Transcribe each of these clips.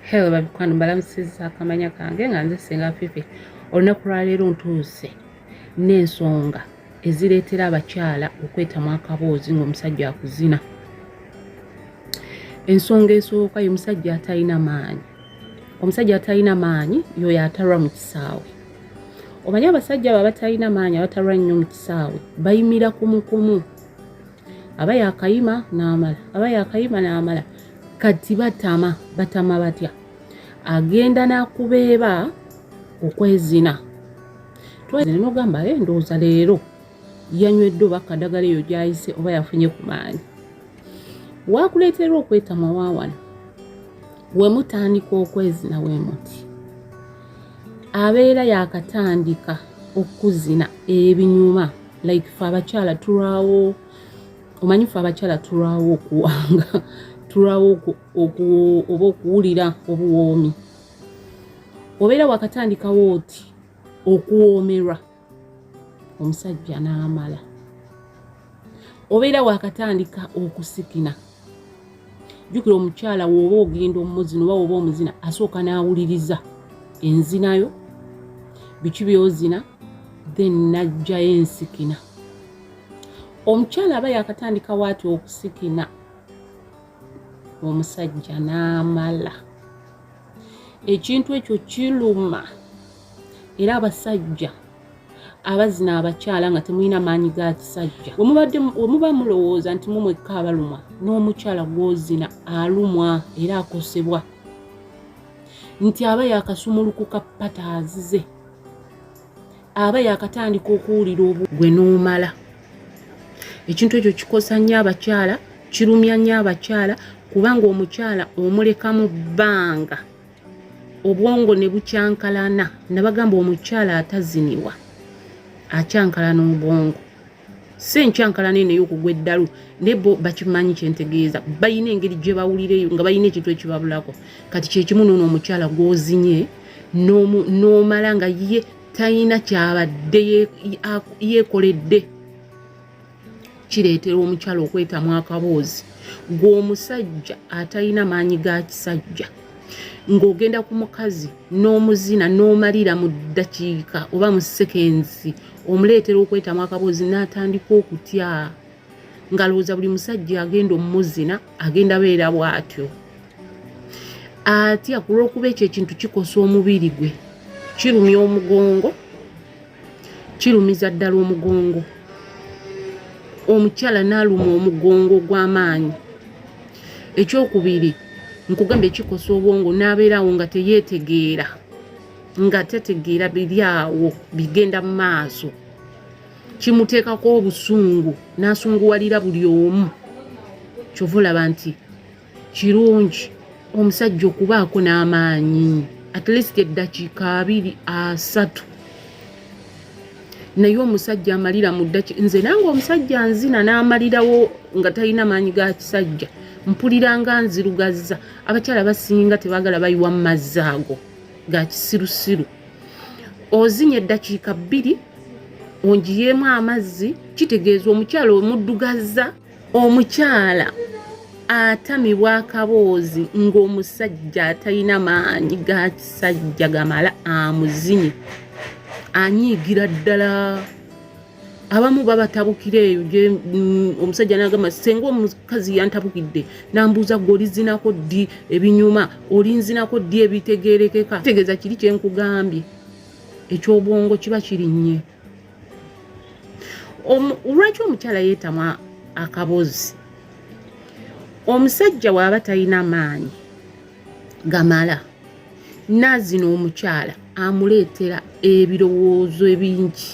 Hello babikwano mbalamusiza akamanya kange nga nze singa fifi olunaku lwaleero ntuuse n'ensonga ezireetera abakyala okwetamu akaboozi ng'omusajja akuzina ensonga esooka ye musajja atalina maanyi omusajja atalina maanyi yoyo atalwa mu kisaawe omanyi abasajja abo abatalina maanyi abatalwa nnyo mu kisaawe bayimira kumukumu aba yakayima n'amala aba yakayima n'amala kati batama batama batya agenda nakubeeba okwezina twezina nogamba e eh, ndowooza leero yanywedde oba kadagala eyo gyayise oba yafunye ku maanyi wakuleeterwa okwetamwa waawano wemutandika okwezina wemuti abeera yakatandika okuzina ebinyuma like fe abakyala tulwawo omanyi fe abakyala tulwawo okuwanga tulwawo oba okuwulira obuwoomi obeera wakatandikawo oti okuwoomerwa omusajja n'amala obeera wakatandika okusikina jukira omukyala woba ogenda omumuzina oba woba omuzina asooka n'awuliriza enzinayo biki byozina then najjayo ensikina omukyala aba yakatandika waati okusikina omusajja n'amala ekintu ekyo kiluma era abasajja abazina abakyala nga temulina maanyi ga kisajja wemuba mulowooza nti mumwekka abalumwa n'omukyala gwozina alumwa era akosebwa nti aba yakasumulukuka pata azize aba yakatandika okuwulira obu gwe n'omala ekintu ekyo kikosa nnyo abakyala kirumya nnyo abakyala kubanga omukyala omuleka mu bbanga obwongo ne bukyankalana nabagamba omukyala ataziniwa akyankalana obwongo si enkyankalana eno ey'okugwa eddalu naye bo bakimanyi kyentegeeza balina engeri gye bawulira eyo nga balina ekintu ekibabulako kati kyekimu noono omukyala gwozinye n'omala nga ye talina kyabadde yeekoledde kireetera omukyala okwetamu akaboozi gweomusajja atalina maanyi ga kisajja ng'ogenda ku mukazi n'omuzina n'omalira mu ddakiika oba mu sekensi omuleetera okwetamu akaboozi n'atandika okutya ngalowooza buli musajja agenda omumuzina agenda beera bw'atyo atya ku lw'okuba ekyo ekintu kikosa omubiri gwe kirumya omugongo kirumiza ddala omugongo omukyala n'aluma omugongo ogw'amaanyi ekyokubiri nkugambye kikosa obwongo n'abeerawo nga teyeetegeera nga tetegeera biri awo bigenda mu maaso kimuteekako obusungu n'asunguwalira buli omu kyova olaba nti kirungi omusajja okubaako n'amaanyi at least eddakiika abiri asatu naye omusajja amalira mu ddaki nze nange omusajja nzina n'amalirawo nga talina maanyi ga kisajja mpuliranga nzirugazza abakyala basinga tebagala bayiwa mu mazzi ago ga kisirusiru ozinya eddakiika bbiri ongiyeemu amazzi kitegeeza omukyala omuddugazza omukyala atamibwa akaboozi ng'omusajja atalina maanyi ga kisajja gamala amuzinye anyiigira ddala abamu babatabukira eyo mm, omusajja nagamba senga omukazi yantabukidde nambuuza gwe olizinako ddi ebinyuma olinzinako ddi ebitegerekeka tegeeza kiri kyenkugambye ekyobwongo kiba kirinnye lwaki omukyala yeetamwa akabozi omusajja waaba talina maanyi gamala naazina omukyala amuleetera ebirowoozo ebingi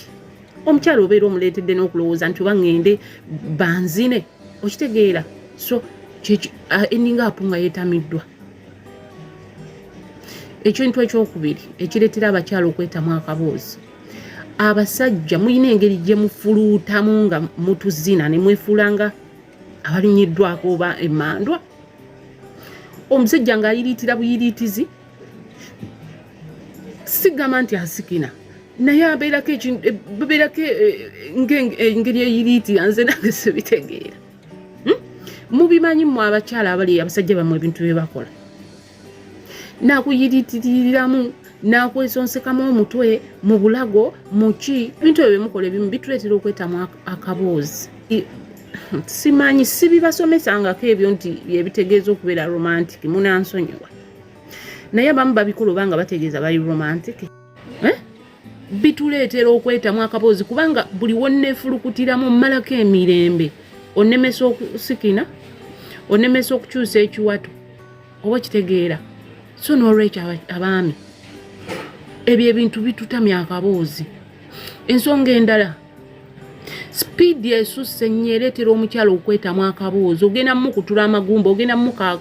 omukyala obeera omuleetedde n'okulowooza nti oba ŋŋende banzine okitegeera so eninga apu nga yeetamiddwa ekintu ekyokubiri ekireetera abakyala okwetamu akaboozi abasajja mulina engeri gye mufuluutamu nga mutuzina ne mwefuulanga abalinyiddwako oba emandwa omusajja ng'ayiriitira buyiriitizi sigamba nti asikina naye abeerako babeerako eh, eh, eh, engeri eyiriitira nze nange sibitegeera hmm? mubimanyi mu abakyala abali abasajja bamwe ebintu bye bakola nakuyiritiriramu nakwesonsekamu omutwe mu bulago muki ebintu ebyo byemukola ebimu bituleetera okwetamwa akaboozi simanyi sibibasomesangako ebyo nti byebitegeeza okubeera romantic munansonyiwa naye abamu babikola oba nga bategeeza bali romantic eh? bituleetera okwetamu akaboozi kubanga buli wonneefulukutiramu mmalako emirembe onemesa okusikina onemesa okukyusa ekiwato oba kitegeera so n'olwekyo abaami ebyo ebintu bitutamya akaboozi ensonga endala sipiidi esusse ennyo ereetera omukyala okwetamu akaboozi ogenda mukutula amagumba ogenda muka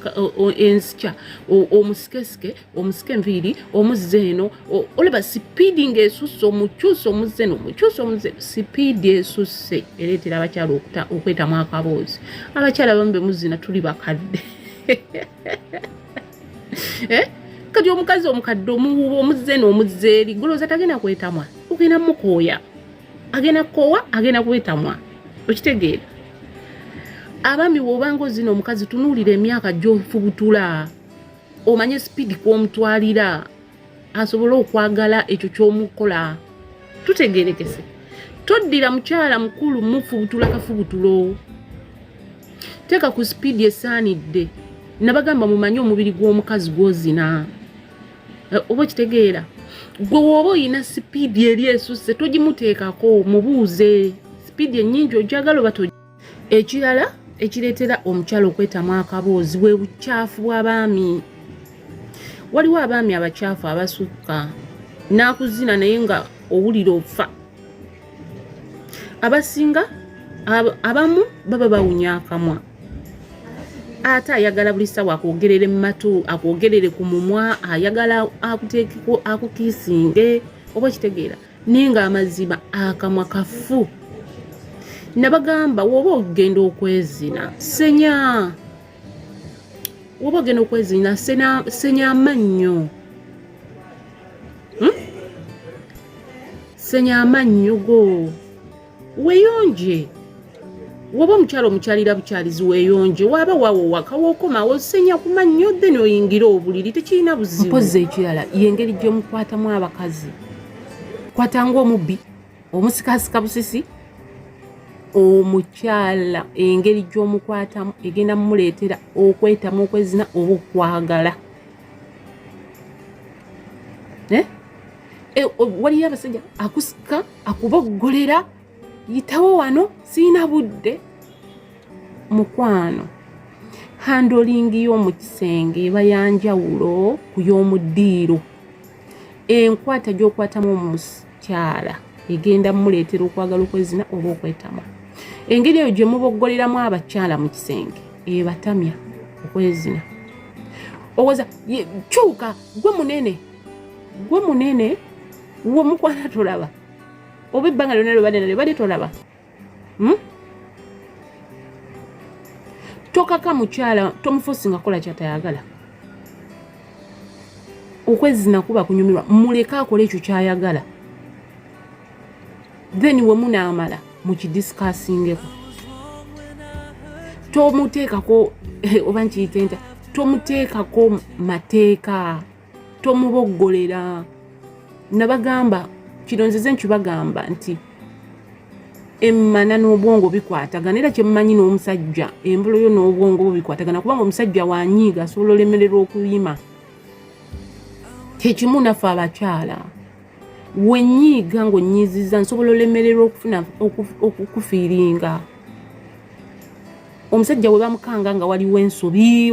ensikya omusikesike omusike enviiri omuzze eno olaba sipiidi ngaesusse omukyusa omuzze eno omukyusa omuzze sipiidi esusse ereetera abakyala okwetamu akaboozi abakyala bamu bemuzina tuli bakadde eh? kati omukazi omukadde omuwuba omuzze n'omuzze eri golooza tagenda kwetamwa ogenda mukooya agenda kukoowa agenda kwetamwa okitegeera abaami wobanga ozina omukazi tunuulira emyaka gyofubutula omanye sipiidi kwomutwalira asobole okwagala ekyo kyomukola tutegerekese toddira mukyala mukulu mufubutula kafubutulo teeka ku sipiidi esaanidde nabagamba mumanye omubiri gw'omukazi gwozina eh, oba okitegeera gwe wooba olina sipiidi eri esusse togimuteekako mubuuze sipiidi ennyingi ojagala oba ekirala ekireetera omukyala okwetamu akaboozi bwe bukyafu bw'abaami waliwo abaami abakyafu abasukka n'akuzina naye nga owulira ofa abasinga abamu baba bawunya akamwa ate ayagala buli ssaawa akwogerere mu matu akwogerere ku mumwa ayagala akuteekeko akukiisinge oba okitegeera naye nga amazima akamwa kafu nabagamba woba ogenda okwezina senya woba ogenda okwezina senya amannyo hmm? senya amannyo go weyonje woba omukyalo omukyalira bukyalizi weyonje waba wawo waka wokoma osenya kuma nnyo then oyingire obuliri tekirina buzibu mpozi ekirala yengeri gyomukwatamu abakazi kwata ngaomubbi omusikasika busisi omukyala engeri gyomukwatamu egenda mumuleetera okwetamu okwezina oba okwagala eh? eh, waliyo abasajja akusika akuboggolera yitawo wano sirina budde mukwano handolingi y'omu kisenge eba yanjawulo ku y'omu ddiiro enkwata gy'okwatamu omukyala egenda muleetera okwagala okwezina oba okwetama engeri eyo gye muboggoleramu abakyala mu kisenge ebatamya okwezina owoza kyuka gwe munene gwe munene womukwana tolaba oba ebbanga lyona lyobadenalyo bali tolaba hmm? tokaka mukyala tomufosi nga kola kyatayagala okwezina kuba kunyumirwa muleke akole ekyo kyayagala then wemunaamala mukidiscasingeko tomuteekako eh, oba nkiyitenta tomuteekako mateeka tomuboggolera nabagamba kino nzize nkibagamba nti emmana n'obwongo bikwatagana era kyemmanyi n'omusajja embolo yo n'obwongo bwo bikwatagana kubanga omusajja wanyiiga asobola olemererwa okuyima kyekimu naffe abakyala wenyiiga ng'onyiiziza nsobola olemererwa okufuna okukufiiringa omusajja we bamukanga nga waliwo ensobi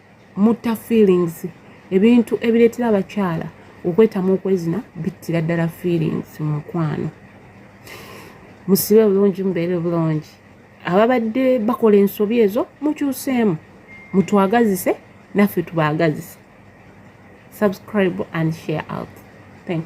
mutta feelings ebintu ebireetera abakyala okwetamu okwezina bittira ddala feelings mu mukwano musibe bulungi mubeere bulungi ababadde bakola ensobi ezo mukyuseemu mutwagazise naffe tubaagazise subscribe and share out thank